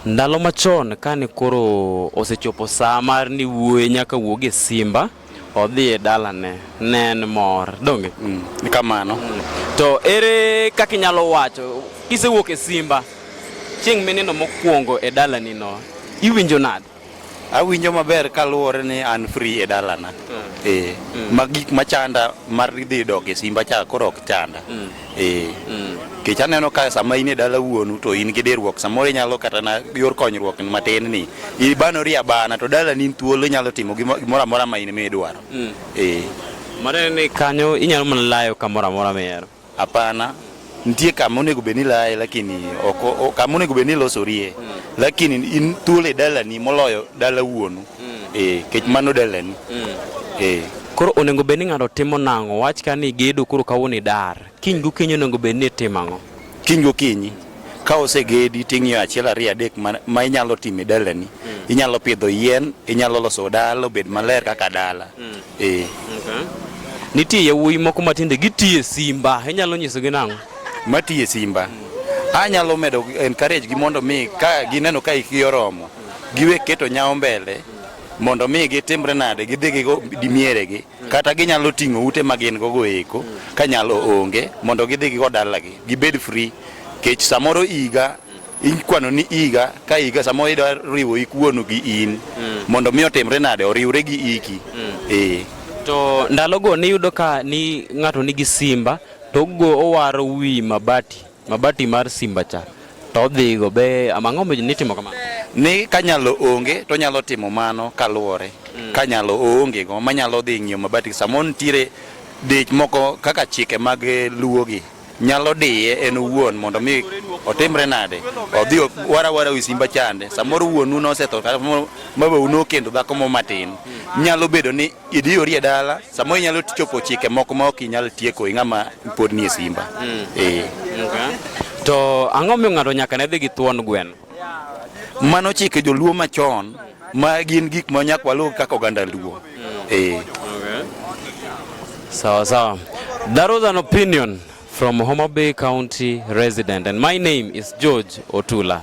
Ndalo machon kane koro osechopo saa mar ni wuoye nyaka wuog e simba odhi e dalane ne en mor donge mm, kamano mm. to ere kaka inyalo wacho kisewuok e simba chieng' mineno mokwongo e dalanino iwinjo nade Awinjo maber kaluwore ni an free e dalana. Mm. Eh, mm. ma gik machanda mar dhi dok e simba cha koro ok chanda. Mm. Eh. Mm. Kech aneno ka sama in e dala wuonu to in gi dirruok samoro inyalo kata na yor konyruok matin ni ibanori abana to dala ni thuolo inyalo timo gimoro amora ma in midwaro. Mm. Eh. Mane ni kanyo inyalo mana layo kamoro amora mihero. Hapana, nitie kama onego bed ni laye lakini ok kama onego bed ni losorie mm. lakini in thuolo e dalani moloyo dala wuonu mm. eh, kech mano dalani mm. eh. Koro onego bed ni ng'ato timo nang'o? Wach ka ni gedo koro kawuono idar, kiny gokinyi onego bed ni itimo ang'o? Kiny gokinyi ka osegedi ting'iyo achiel ariyo adek ma, ma inyalo timo e dalani mm. inyalo pidho yien inyalo loso dala obed maler kaka dala mm. Eh. Okay. Nitie yawuoyi moko matinde gitiye simba, inyalo nyisogi nang'o? Matiye simba. Anyalo medo encourage gi mondo mi ka gineno ka ikgi oromo, giwe keto nyawo mbele mondo mi gitimre nade gidhi gigo dimieregi kata ginyalo ting'o ute ma gin gogo eko ka nyalo onge mondo gidhi gigo dalagi gibed free kech samoro iga ikwano ni iga ka iga sama ida riwo ik wuonu gi in mm. mondo mi otimre nade oriwre gi iki mm. e. to ndalogo niyudo ka ni ng'ato nigi simba to go owaro wi mabati mabati mar simba cha to odhigo be amang'o be nitimo kamano ni kanyalo onge to nyalo timo mano kaluwore mm. kanyalo onge go manyalo dhi ng'iyo mabati samo nitiere dich moko kaka chike mag luwogi nyalo diye en owuon mondo mi otimre nade odhi wara wara wi simba chande samoro wuonu nosetho kata mabau nokendo dhako mo matin nyalo bedo ni idiyori e dala samoro inyalo chopo chike moko ma ok inyal tieko i ng'ama pod nie simba mm. e. okay. to ang'o miyo ng'ato nyaka ne dhi gi thuon gweno Mano chike joluo machon ma gin gik ma nyak waluw kaka oganda luo. Eh. Sawa sawa. That was an opinion from Homa Bay County resident and my name is George Otula.